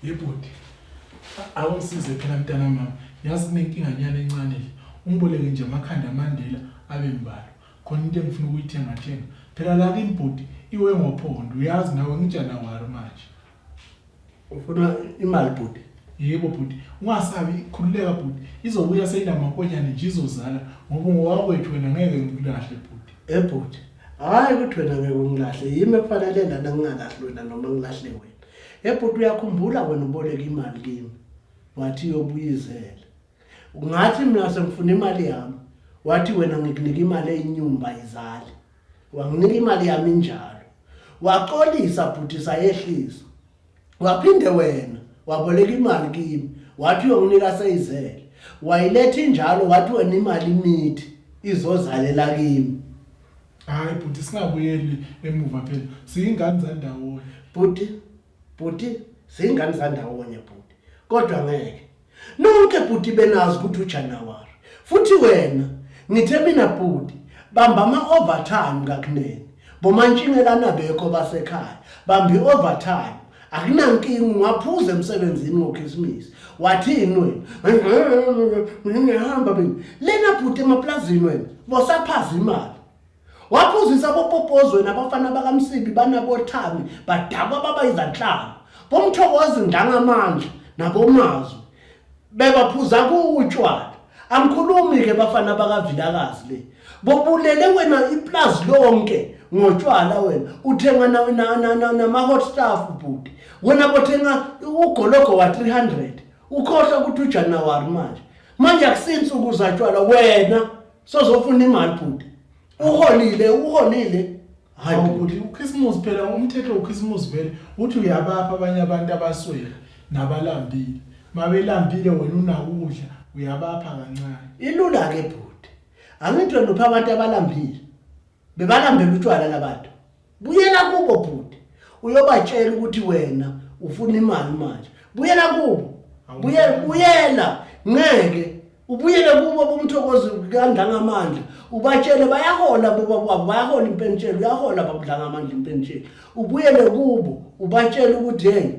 yebhuti awungisize phela mntana mama yazi kunenkinganyana encane le ungiboleke nje amakhanda amandela abe mbalo khona into engifuna ukuyithengathenga phela la kimbhuti iwe ngophondo uyazi nawe ngijana wari manje ufuna imali bhuti yebo bhuti ungasabi khululeka bhuti izobuya seyinamankonyane nje izozala ngoba ngowakwethu wena ngeke ngikulahle bhuti ebhuti hhayi ukuthi wena ngeke ungilahle yimi ekufanele lana ngingalahle wena noma ngilahle wena ebhuti uyakhumbula wena uboleka imali kimi wathi yobuyizela Ngathi mina sengifuna imali yami. Wathi wena ngikunika imali eyinyumba izali. Wanginika imali yami njalo. Waxolisa bhuti sayehlisa. Waphinde wena waboleka imali kimi. Wathi uyonginika seyizele. Wayiletha injalo wathi wena imali imithi izozalela kimi. Hayi bhuti singabuyeli emuva phela siyingane zandawonye. Bhuti Bhuti zingane zandawonye bhuti kodwa ngeke nonke bhuti benazi ukuthi uJanuary futhi wena ngithe mina bhuti bamba ama-overtime kakunene bomantshingelana bekho basekhaya bambi overtime akunankinga ungaphuza emsebenzini ngokhisimusi wathini wena ngihamba mina lena bhuti emaplazini wena bosaphaza imali Waphuzisa abopopozweni abafana bakaMsibi banabothami badakwa baba izanhlanga. Bomthokozi ndangamandla nabomazwi bebaphuza kuwutshwala. Angikhulumi ke bafana bakaVilakazi le. Bobulele wena iplazi lonke ngotshwala wena. Uthenga na na na na nama hot stuff bhuti. Wena bothenga ugologo wa 300. Ukhohlwa ukuthi uJanuary manje. Manje akusinsuku zatshwala wena sozofuna imali bhuti uholile uholile hayi bhuti ukhisimusi phela umthetho wokhisimusi vele uthi uyabapha abanye abantu abaswele nabalambile mabelambile wena unakudla uyabapha kancane ilula-ke bhuti angithi wena upha abantu abalambile bebalambela utshwala labantu buyela kubo bhuti uyobatshela ukuthi wena ufuna imali manje buyela kubo buyela buyela ngeke ubuyele kubo bomthokozi kandlangamandla ubatshele bayahola boba kwabo bayahola impentshelo uyahola babudlangamandla impentshelo ubuyele kubo ubatshele ukuthi yena